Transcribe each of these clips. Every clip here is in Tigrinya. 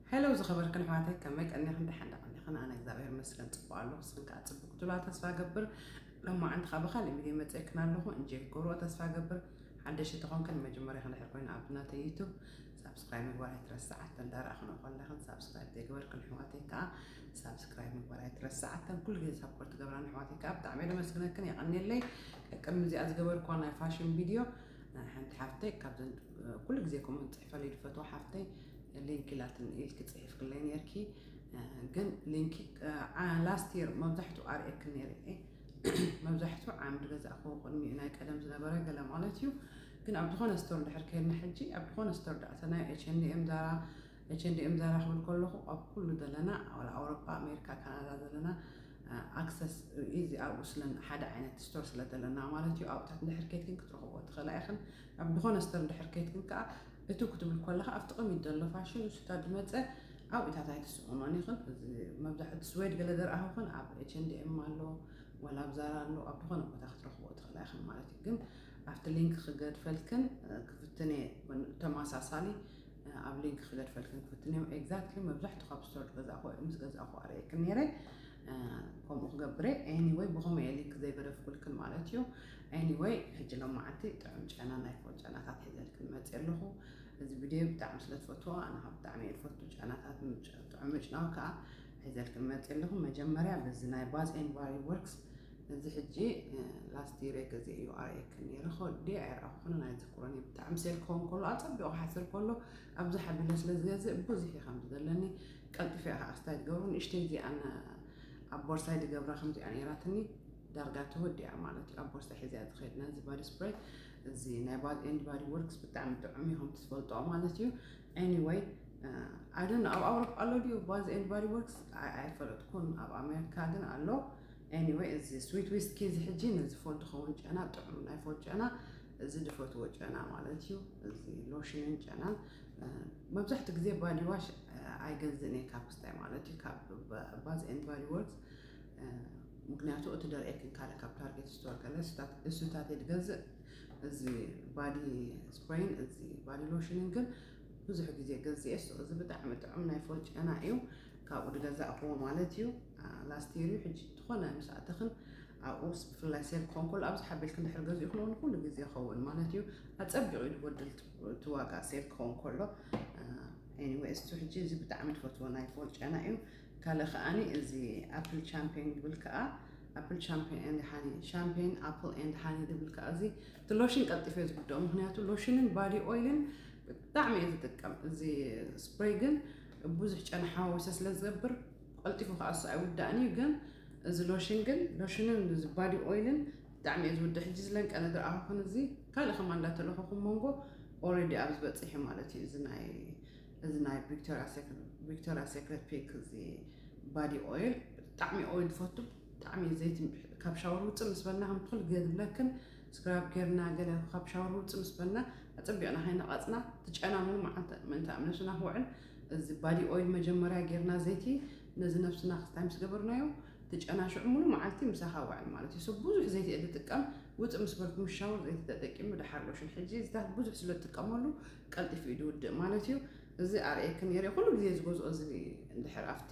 ሀለው ዝኸበርክን ኣሕዋተይ ከመይ ቀኒኽን ደሓን ዶ ቀኒኽን ኣነ እግዚኣብሔር ይመስገን ፅቡቅ ኣለኹ ንስኽን ከዓ ፅቡቅ ክትብላ ተስፋ እገብር ሎማዓንቲ ከዓ ብካሊእ ቪድዮ መፅኤክን ኣለኹ እንጆይ ክትገብርዎ ተስፋ እገብር ሓደሽቲ ተኾንክን መጀመሪያኽን ድሕር ኮይኑ ኣብ ናተይ ዩቱብ ሳብስክራይብ ምግባር ኣይትረስዓ እተን ዳራእኽን ኮለኽን ሳብስክራይብ ዘይገበርክን ኣሕዋተይ ከዓ ሳብስክራይብ ምግባር ኣይትረስዓ እተን ኩሉ ግዜ ሳፖርት ገብራን ኣሕዋተይ ከዓ ብጣዕሚ የመስግነክን የቀኒየለይ ቅድሚ እዚኣ ዝገበርክዋ ናይ ፋሽን ቪድዮ ሓንቲ ሓፍተይ ካብዘን ኩሉ ግዜ ከምኡ ዝፅሕፈልይ ዝፈትዋ ሓፍተይ ሊንኪ ላትኒ ኢልኪ ፅሒፍክለይ ነርኪ ግን ሊንኪ ላስት የር መብዛሕትኡ ኣርእየኪ ነይረ እየ መብዛሕትኡ ዓምዲ ገዛእክዎ ቅድሚኡ ናይ ቀደም ዝነበረ ገለ ማለት እዩ ግን ኣብ ዝኾነ ስቶር ድሕር ከይድና ሕጂ ኣብ ዝኾነ ስቶር ዳእተና ኤችንኤም ዛራ መቸ እንዲኦም ዛራ ክብል ከለኹ ኣብ ኩሉ ዘለና ዋላ ኣውሮፓ ኣሜሪካ ካናዳ ዘለና ኣክሰስ ኢዚ ኣብኡ ስለ ሓደ ዓይነት ስቶር ስለ ዘለና ማለት እዩ ኣብታት እንድሕር ኬትክን ክትረኽቦ ትኽእላ ኢኽን ኣብ ዝኾነ ስቶር እንድሕር ኬትክን ከዓ እቱ ክትብል ከለካ ኣብቲ ቅሚት ዘሎ ፋሽን ንሱታ ዝመፀ ኣብኡ ኢታት ኣይትስእኖን ኢኽን መብዛሕቲ ስዌድ ገለ ዘርኣኹኽን ኣብ ኤች ኤንድ ኤም ኣሎ ወላ ኣብ ዛራ ኣሎ ኣብ ዝኾነ ቦታ ክትረኽቦ ትኽእላ ኢኽን ማለት እዩ ግን ኣብቲ ሊንክ ክገድፈልክን ክፍትነ ተመሳሳሊ ኣብ ሊንክ ክገድፈልክን ክፍትን እዮም ኤግዛክትሊ መብዛሕቱ ካብ ስቶር ዝገዛእኹ ወይ ምስ ገዛእኹ ኣርእየክን ነይረ ከምኡ ክገብረ ኤኒወይ ብኸመ እየ ሊንክ ዘይገደፍኩልክን ማለት እዩ ኤኒወይ ሕጂ ሎማዓንቲ ጥዑም ጨና ናይ ፎን ጨናታት ሒዘልክን መፅእ ኣለኹ እዚ ቪድዮ ብጣዕሚ ስለ ትፈትዎ ኣነ ካብ ብጣዕሚ እየ ዝፈቱ ጨናታት ጥዑም ምጭናው ከዓ ሒዘልክን መፅእ ኣለኹ መጀመርያ በዚ ናይ ባዝ ኤን ባሪ ወርክስ እዚ ሕጂ ላስት ይሬ ገዜ እዩ ኣርእየክን ነይረ ከወዲየ ኣይረኣኹኩንን ኣይዝክሮን እየ ብጣዕሚ ሴል ክኸውን ከሎ ኣጸቢቑ ሓሰል ከሎ ኣብዛ ሓቢለ ስለ ዝገዝእ ብዙሕ እዩ ከምዚ ዘለኒ ቀልጢፈ እያ ከዓ ኣስታይ ዝገብሮ ንእሽተይ እዚኣን ኣብ ቦርሳይ ዝገብራ ከምዚኣ ነይራትኒ ዳርጋ ተወዲኣ ማለት እዩ ኣብ ቦርሳ ሒዘያ ዝኸይድ ነዚ ባዲ ስፕሬይ እዚ ናይ ባድ ኤንድ ባዲ ወርክስ ብጣዕሚ ጥዑም እዩ ከምቲ ትፈልጦ ማለት እዩ ኤኒወይ ኣይደን ኣብ ኣውሮፓ ኣሎ ድዩ ባዝ ኤንድ ባዲ ወርክስ ኣይፈለጥኩን ኣብ ኣሜሪካ ግን ኣሎ Anyway እዚ ስዊት ዊስኪ እዚ ሕጂ ንዝፎ ድኸውን ጨና ጥዑም ናይ ፎ ጨና እዚ ድፈትዎ ጨና ማለት እዩ እዚ ሎሽንን ጨናን መብዛሕትኡ ግዜ ባዲዋሽ ኣይገዝእን እየ ካብ ክስታይ ማለት እዩ ካብ ባዝ ኤን ባዲ ወርክስ ምክንያቱ እቲ ደርእየክን ካለ ካብ ታርጌት ስቶር ከለ እሱታት እየ ዝገዝእ እዚ ባዲ ስፕሬይን እዚ ባዲ ሎሽንን ግን ብዙሕ ግዜ ገዚኤሶ እዚ ብጣዕሚ ጥዑም ናይ ፎል ጨና እዩ ካብኡ ድገዛእክዎ ማለት እዩ ላስት ይር እዩ ሕጂ ዝኾነ ምስ ኣተኽን ኣብኡስ ብፍላይ ሴል ክኾን ከሎ ኣብዚ ሓቢልክ እንድሕር ገዚእኽን እውን ኩሉ ግዜ ይኸውን ማለት እዩ ኣፀቢቑ እዩ ድጎድል እቲ ዋጋ ሴል ክኸውን ከሎ ኤኒዌይ እስቱ ሕጂ እዚ ብጣዕሚ ትፈትዎ ናይ ፎል ጨና እዩ ካልእ ከዓኒ እዚ ኣፕል ቻምፒዮን ይብል ከዓ ኣፕል ቻምፒዮን ኤንድ ሃኒ ሻምፒዮን ኣፕል ኤንድ ሃኒ ድብል ከዓ እዚ እቲ ሎሽን ቀልጢፈ እየ ዝጉድኦ ምክንያቱ ሎሽንን ባዲ ኦይልን ብጣዕሚ እየ ዝጥቀም እዚ ስፕሬይ ግን ብዙሕ ጨና ሓዋዊሰ ስለ ዝገብር ቀልጢፉ ከኣሱ ኣይውዳእን እዩ ግን እዚ ሎሽን ግን ሎሽንን እዚ ባዲ ኦይልን ብጣዕሚ እየ ዝውድእ ሕጂ ዝለንቀ ነገር ኣኸኹን እዚ ካልእ ከማ እንዳተለኸኹም መንጎ ኦረዲ ኣብ ዝበፅሕ እዩ ማለት እዩ እዚ ናይ እዚ ናይ ቪክቶሪያ ሴክሬት ፒክ እዚ ባዲ ኦይል ብጣዕሚ ኦይል ዝፈቱ ብጣዕሚ እዩ ዘይቲ ካብ ሻወር ውፅእ ምስ በልና ከም ኩሉ ግዜ ዝብለክን ስክራብ ጌርና ገለ ካብ ሻወር ውፅእ ምስ በልና ኣፀቢቕና ከይነቐፅና እቲ ጨና ምንም መዓልቲ ምእንቲ ኣብ ነብስና ክውዕል እዚ ባዲ ኦይል መጀመርያ ጌርና ዘይቲ ነዚ ነብስና ክስታይ ምስ ገበርናዮ እቲ ጨና ሽዑ ሙሉ መዓልቲ ምሳኻ ውዕል ማለት እዩ ሰብ ብዙሕ ዘይቲ እየ ዝጥቀም ውፅእ ምስ በልኩም ሻወር ዘይቲ ተጠቂሙ ድሓር ሎሽን ሕጂ እዚታት ብዙሕ ስለ ዝጥቀመሉ ቀልጢፉ እዩ ዝውድእ ማለት እዩ እዚ ኣርእየክን ነይረ ኩሉ ግዜ ዝገዝኦ እዚ እንድሕር ኣብቲ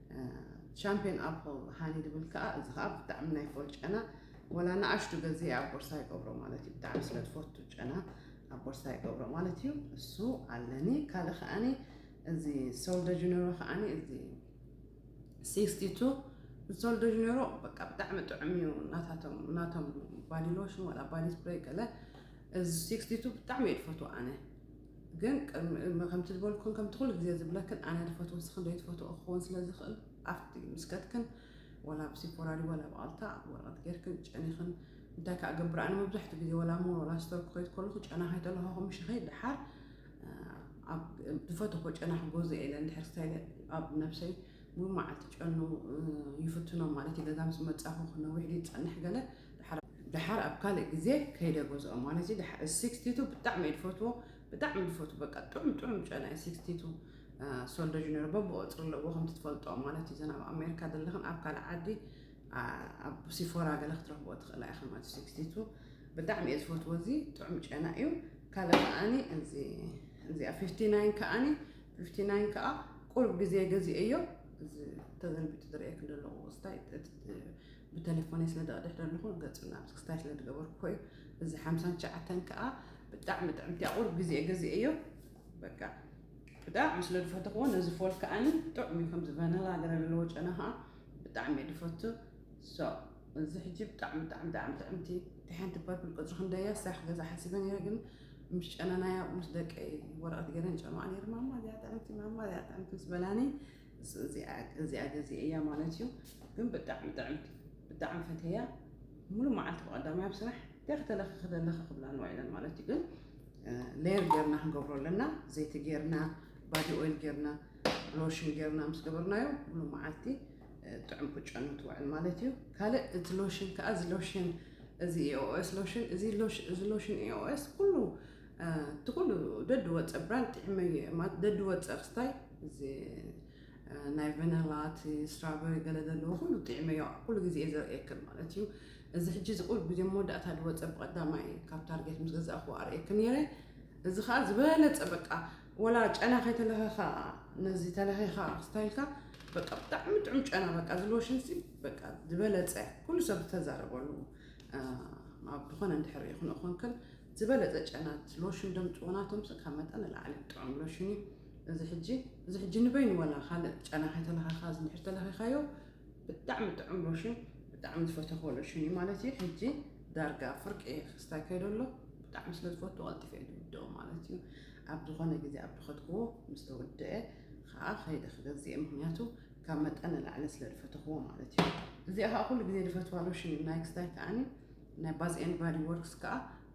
ሻምፕዮን ኣፕል ሃኒ ድብል ከኣ እዚ ከኣ ብጣዕሚ ናይ ፎል ጨና ወላ ንኣሽቱ ገዜ ኣብ ቦርሳ ይገብሮ ማለት እዩ ብጣዕሚ ስለ ትፈቱ ጨና ኣብ ቦርሳ ይገብሮ ማለት እዩ እሱ ኣለኒ ካልእ ከኣኒ እዚ ሶል ደ ጀኔሮ ከኣኒ እዚ ሲክስቲ ቱ ሶል ደ ጀኔሮ በቃ ብጣዕሚ ጥዑም እዩ ናታቶም ናቶም ባዲ ሎሽን ወላ ባዲ ስፕሬይ ገለ እዚ ሲክስቲ ቱ ብጣዕሚ እየ ዝፈትዎ ኣነ ግን ከምቲ ዝበልኩን ከምቲ ኩሉ ግዜ ዝብለክን ኣነ ድፈት ወስኽን ደይትፈትኦ ክኸውን ስለ ዝኽእል ኣብቲ ምስከትክን ወላ ብሲፖራ ድዩ ወላ ብኣልታ ወረቐት ጌርክን ጨኒኽን እንታይ ከዓ ገብር ኣነ መብዛሕትኡ ግዜ ወላ ሞል ወላ ስቶር ክኸይድ ከለኹ ጨና ከይተለኸኹ ምሽኸይ ድሓር ኣብ ዝፈተኾ ጨና ክገዝኦ ኢለ እንድሕር ስታይለ ኣብ ነብሰይ ሙሉ መዓልቲ ጨኑ ይፍትኖ ማለት እዩ ገዛ ምስ መፃኹ ክነዊሕ ዝፀንሕ ገለ ደሓር ኣብ ካልእ ግዜ ከይደ ገዝኦም ማለት እዩ። ደሓር ሲክስቲቱ ብጣዕሚ እዩ ዝፈትዎ ብጣዕሚ ዝፈትዎ በቃ ጥዑም ጥዑም ጨና እዩ ሲክስቲቱ ሶልደጅ ነይሩ በብቆፅሪ ኣለዎ ከምቲ ትፈልጦ ማለት እዩ። እዘን ኣብ ኣሜሪካ ዘለኽን ኣብ ካልእ ዓዲ ኣብ ሲፎራ ገለ ክትረኽቦ ትኽእላ ኢኻ ማለት ሲክስቲቱ ብጣዕሚ እየ ዝፈትዎ እዚ ጥዑም ጨና እዩ። ካልእ ከዓኒ እዚኣ ፊፍቲ ናይን ከዓኒ ፊፍቲ ናይን ከዓ ቁርብ ግዜ ገዚኤዮ ተዘንቢጡ ዝርእየክ ዘለኹ ስታይ ብተሌፎነይ ስለ ደቅድሕ ደለኹ ገጹ ናብ ስክስታይ ስለ ድገበርኩ እዩ እዚ ሓምሳን ትሽዓተን ከኣ ብጣዕሚ ጥዕምቲ እያ ቁሩብ ግዜ ገዚኤዮ በቃ ብጣዕሚ ስለ ድፈተኽዎ ነዚ ፎል ከኣኒ ጥዑም እዩ ከምዚ ቫነላ ገለ ዘለዎ ጨና ከኣ ብጣዕሚ እየ ድፈቱ ሶ እዚ ሕጂ ብጣዕሚ ብጣዕሚ ብጣዕሚ ጥዕምቲ እቲ ሓንቲ ፐርፕል ቅጽሪ ክንደይ እያ ሳኽ ገዛ ሓሲበ ነይረ ግን ምስ ጨነናያ ምስ ደቀይ ወረቐት ገይረን ጨንዋ ነይረ ማማ እዚኣ ጥዕምቲ ማማ እዚኣ ጥዕምቲ ምስ በላኒ እዚኣ ገዚአ እያ ማለት እዩ ግን ብጣዕሚ ጥዕምቲ ብጣዕሚ ፈተያ ሙሉ መዓልቲ ብቀዳማይ ኣብ ስራሕ እንታይ ክተለኽኺ ዘለኺ ክብላ ንዋ ኢለን ማለት እዩ ግን ሌየር ጌርና ክንገብሮ ኣለና ዘይቲ ጌርና ባዲ ኦይል ጌርና ሎሽን ጌርና ምስ ገበርናዮ ሙሉ መዓልቲ ጥዑም ክጨኑ ትውዕል ማለት እዩ ካልእ እቲ ሎሽን ከዓ እዚ ሎሽን እዚ ኤኦኤስ ሎሽን እዚ ሎሽን ኤኦኤስ ኩሉ እቲ ኩሉ ደድወጸ ብራንድ ጥዒመዮ እየ ማለት ደድወጸ ክስታይ እዚ ናይ ቨነላ እቲ ስትራበሪ ገለ ዘለዎ ኩሉ ጥዒመዮ ኩሉ ግዜ እየ ዘርእየክን ማለት እዩ እዚ ሕጂ እዚ ቁሩብ ግዜ መወዳእታ ድወጸ ብቀዳማይ ካብ ታርጌት ምስ ገዛእኩ ኣርእየክን ነይረ እዚ ከዓ ዝበለጸ በቃ ወላ ጨና ከይተለኸኻ ነዚ ተለኺኻ ክስታይልካ በቃ ብጣዕሚ ጥዑም ጨና በቃ እዚ ሎሽን ሲ በቃ ዝበለፀ ኩሉ ሰብ ዝተዛረበሉ ኣብ ዝኾነ እንድሕር ይኹን እኾንክን ዝበለጸ ጨናት ሎሽን ደምጽዎ ናቶምስ ካብ መጠን ንላዕሊ ጥዑም ሎሽን እዩ እዚ ሕጂ እዚ ሕጂ ንበይኑ ወላ ካልእ ጨና ከይተለኻኻ እዚ እንድሕር ተለኺኻዮ ብጣዕሚ ጥዑም ሎሽን ብጣዕሚ ዝፈተኽዎ ሎሽን እዩ ማለት እዩ ሕጂ ዳርጋ ፍርቂ እየ ክስታይ ከይዶ ኣሎ ብጣዕሚ ስለ ዝፈቱ ቀልጢፈ እየ ዝውድኦ ማለት እዩ ኣብ ዝኾነ ግዜ ኣብ ድኸትክዎ ምስ ተወድአ ከዓ ከይደ ክገዝእ ምክንያቱ ካብ መጠን ንላዕሊ ስለ ዝፈተኽዎ ማለት እዩ እዚኣ ከዓ ኩሉ ግዜ ዝፈትዋ ሎሽን እዩ ናይ ክስታይ ከዓኒ ናይ ባዝ ኤንድ ባዲ ወርክስ ከኣ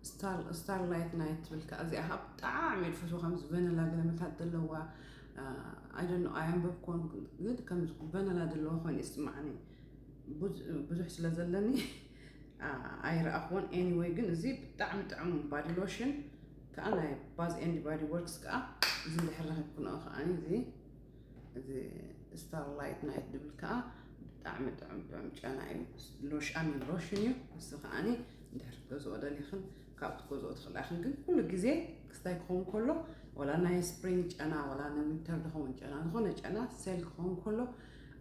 ስታር ስታር ላይት ናይት ትብል ከኣ እዚኣ ከኣ ብጣዕሚ እየ ዝፈትዎ ከምዚ ቨነላ ገለመታት ዘለዋ ኣይደኖ ኣያንበብኮን ግን ከምዚ ቨነላ ዘለዎ ኮይኑ ይስማዕኒ ብዙሕ ስለ ዘለኒ ኣይረኣኽዎን ኤኒወይ ግን እዚ ብጣዕሚ ጥዑም ባዲ ሎሽን ከዓ ናይ ባዝ ኤንድ ባዲ ወርክስ ከዓ እዚ እንድሕር ረኺብኩንኦ ከዓ እዚ እዚ ስታር ላይት ናይት ድብል ከዓ ብጣዕሚ ጥዑም ጥዑም ጨና እዩ ሎሽን ሎሽን እዩ ንሱ ከዓኒ እንድሕር ክትገዝኦ ደሊኽን ካብ ትገዝኦ ትኽእላ ኢኽን ግን ኩሉ ግዜ ክስታይ ክኸውን ከሎ ወላ ናይ ስፕሪንግ ጨና ወላ ንዊንተር ዝኸውን ጨና ዝኾነ ጨና ሴል ክኸውን ከሎ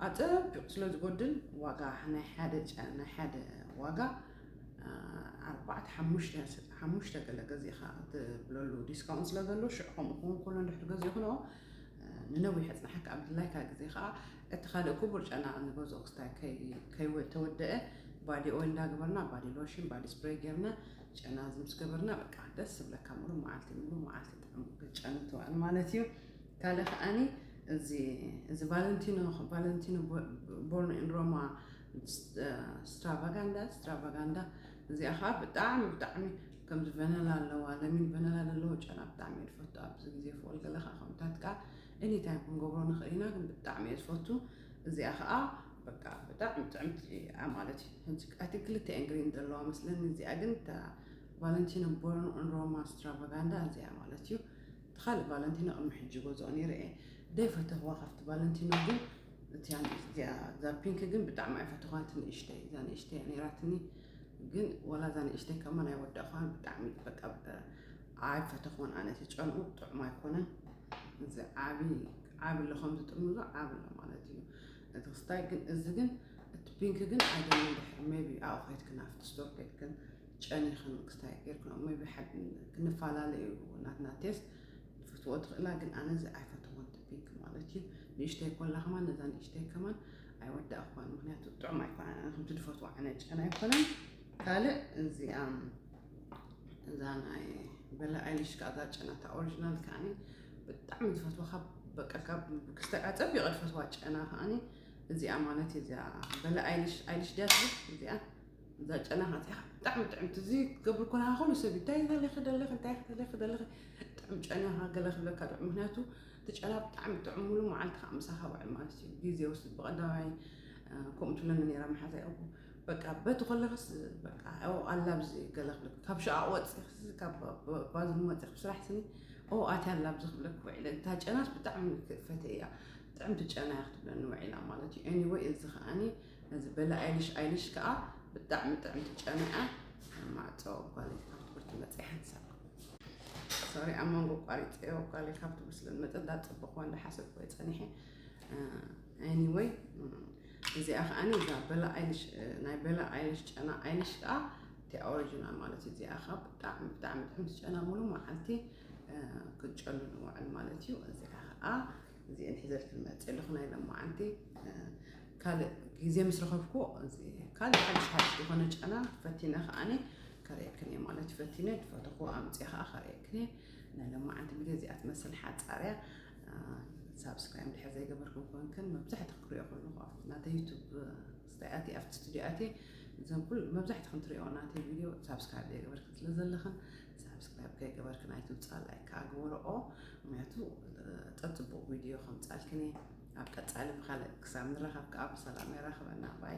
ኣፀቢቑ ስለ ዝጎድል ዋጋ ናይ ሓደ ናይ ሓደ ዋጋ ኣርባዕተ ሓሙሽተ ሓሙሽተ ገለ ገዚእኻ ትብለሉ ዲስካውንት ስለ ዘሎ ሽዑ ከምኡ ክኸውን ከሎ እንድሕር ገዚእኽንኦ ንነዊሕ ኣጽናሕካ ኣብ ድላይካ ግዜ ከኣ እቲ ካልእ ኩቡር ጨና ንገዝኦ ክስታይ ከይ ተወደኤ ባዲ ኦይል እንዳ ገበርና ባዲ ሎሽን ባዲ ስፕረይ ገርና ጨና እዚ ምስ ገበርና በቃ ደስ ዝብለካ ሙሉ መዓልቲ ሙሉ መዓልቲ ጥዑም ክትጨኑ ትውዕል ማለት እዩ ካልእ ከኣኒ እዚ እዚ ቫለንቲኖ ቫለንቲኖ ቦርን ኢን ሮማ ስትራቫጋንዳ ስትራቫጋንዳ እዚኣ ከዓ ብጣዕሚ ብጣዕሚ ከምዚ ቨነላ ኣለዋ ለሚን ቨነላ ደለዎ ጨና ብጣዕሚ እየ ዝፈቱ ኣብዚ ግዜ ፍቁል ገለ ከኣ ከምታት ከኣ ኤኒታይም ክንገብሮ ንኽእል ኢና ግን ብጣዕሚ እየ ዝፈቱ እዚኣ ከኣ በቃ ብጣዕሚ ጥዕምቲ እያ ማለት እዩ እቲ ክልተ እየን ግሪን ዘለዋ መስለኒ እዚኣ ግን እታ ቫለንቲኖ ቦርን ኦን ሮማ ስትራቫጋንዳ እዚኣ ማለት እዩ እቲ ካልእ ቫለንቲኖ ቅድሚ ሕጂ ገዝኦ ነይረ እየ ደይ ፈተኽዋ ካብቲ ቫለንቲኖ ግን እቲያ እዚኣ እዛ ፒንክ ግን ብጣዕሚ ኣይፈተዃን ትንእሽተይ እዛ ንእሽተይ ነይራትኒ ግን ወላ እዛ ንእሽተይ ከማን ኣይወዳእኳን ብጣዕሚ በቃ ኣይፈተኹን ኣነ እቲ ጨንኡ ጥዑም ኣይኮነን እዚ ዓቢ ዓቢ ኣሎ ከምዚ ጥርሙዞ ዓቢ ኣሎ ማለት እዩ እቲ ክስታይ ግን እዚ ግን እቲ ፒንክ ግን ኣይደልን ድሕር ሜቢ ኣብኡ ከይትክን ኣብቲ ስቶር ከይትክን ጨኒኽን ክስታይ ጌርክን ሜቢ ክንፈላለ እዩ ናትና ቴስት ክትፈትዎ ትኽእላ ግን ኣነ እዚ ኣይፈተኹን እቲ ፒንክ ማለት እዩ ንእሽተይ ኮላ ከማን ነዛ ንእሽተይ ከማን ኣይወዳእኳን ምክንያቱ ጥዑም ኣይኮነን ኣነ ከምቲ ድፈትዎ ዓይነት ጨና ኣይኮነን ካልእ እዚኣ እዛ ናይ በላ ኣይልሽ ከዓ እዛ ጨና እታ ኦሪጂናል ከዓኒ ብጣዕሚ ዝፈትዎ ካብ በቃ ካብ ክስተ ከዓ ፀቢቐ ዝፈትዋ ጨና ከዓኒ እዚኣ ማለት እዩ እዚኣ በላ ኣይልሽ ኣይልሽ ድያ ትብል እዚኣ እዛ ጨና ከፂኻ ብጣዕሚ ጥዕምቲ እዚ ትገብር ኮለካ ኩሉ ሰብ እንታይ ዘለኺ ደለኺ እንታይ ዘለኺ ደለኺ ጥዕም ጨናኻ ገለ ክብለካ ዶ ምክንያቱ እቲ ጨና ብጣዕሚ ጥዑም ሙሉ መዓልቲ ከዓ ምሳኻ ውዕል ማለት እዩ ግዜ ወስድ ብቀዳማይ ከምኡ ትብለኒ ነራ መሓዛ ይኹ በቃ በቲ ከለኽስ በቃ ኦ ኣላ ብዚ ገለ ክብለክ ካብ ሸቃቅ ወፂኽስ ካብ ባዝን ወፂኽ ስራሕ ስኒ ኦ ኣትያ ኣላ ብዚ ክብለክ ውዒለ እታ ጨናስ ብጣዕሚ ፈተ እያ ጥዕምቲ ጨና እያ ክትብለኒ ውዒላ ማለት እዩ ኤኒወይ እዚ ከዓኒ ነዚ በሊ ኣይልሽ ኣይልሽ ከኣ ብጣዕሚ ጥዕምቲ ጨና'ያ ማዕጾ ጓለይ ካብ ትምህርቲ መጺኣ ሓንሳብ ሶሪ ኣብ መንጎ ቋሪጸዮ ጓለይ ካብ ትምህርቲ ስለ ዝመጸ እንዳ ጽቡቕዋ እንዳ ሓሰብኩ ጸኒሐ ኤኒወይ እዚኣ ከዓኒ እዛ በላ ኣይልሽ ናይ በላ ኣይልሽ ጨና ኣይልሽ ከዓ እቲ ኦሪጂናል ማለት እዩ እዚኣ ከዓ ብጣዕሚ ብጣዕሚ ጥዕምቲ ጨና ሙሉ መዓልቲ ክንጨሉ ንውዕል ማለት እዩ እዚኣ ከዓ እዚኤን ሒዘልኪ ዝመፅእ ኣለኹ ናይ ሎማዓንቲ ካልእ ግዜ ምስ ረኸብኩ ካልእ ሓድሽ ሓድሽ ዝኾነ ጨና ፈቲነ ከዓኒ ከርእየክን እየ ማለት ፈቲነ ፈተኹ ኣምፅየ ከዓ ከርእየክን እየ ናይ ሎማዓንቲ ግዜ እዚኣ ትመስል ሓፃርያ ሳብስክራይብ እንድሕር ዘይገበርኩም ኮንክን መብዛሕትኡ ክሪኦ ከለኹ ኣብቲ ናተይ ዩቱብ ስታይኣት ኣብቲ ስቱድዮ ኣትየ እዞም ኩሉ መብዛሕትኹም ትሪኦ ናተይ ቪድዮ ሳብስክራይብ ዘይገበርክን ስለ ዘለኽን ሳብስክራይብ ከይገበርኪ ናይቲ ውፃእ ላይክ ከዓ ግበርኦ ምክንያቱ ፀፅቡቅ ቪድዮ ከምፃልክን እየ ኣብ ቀፃሊ ብካልእ ክሳብ ንራከብ ከዓ ብሰላም የራክበና ባይ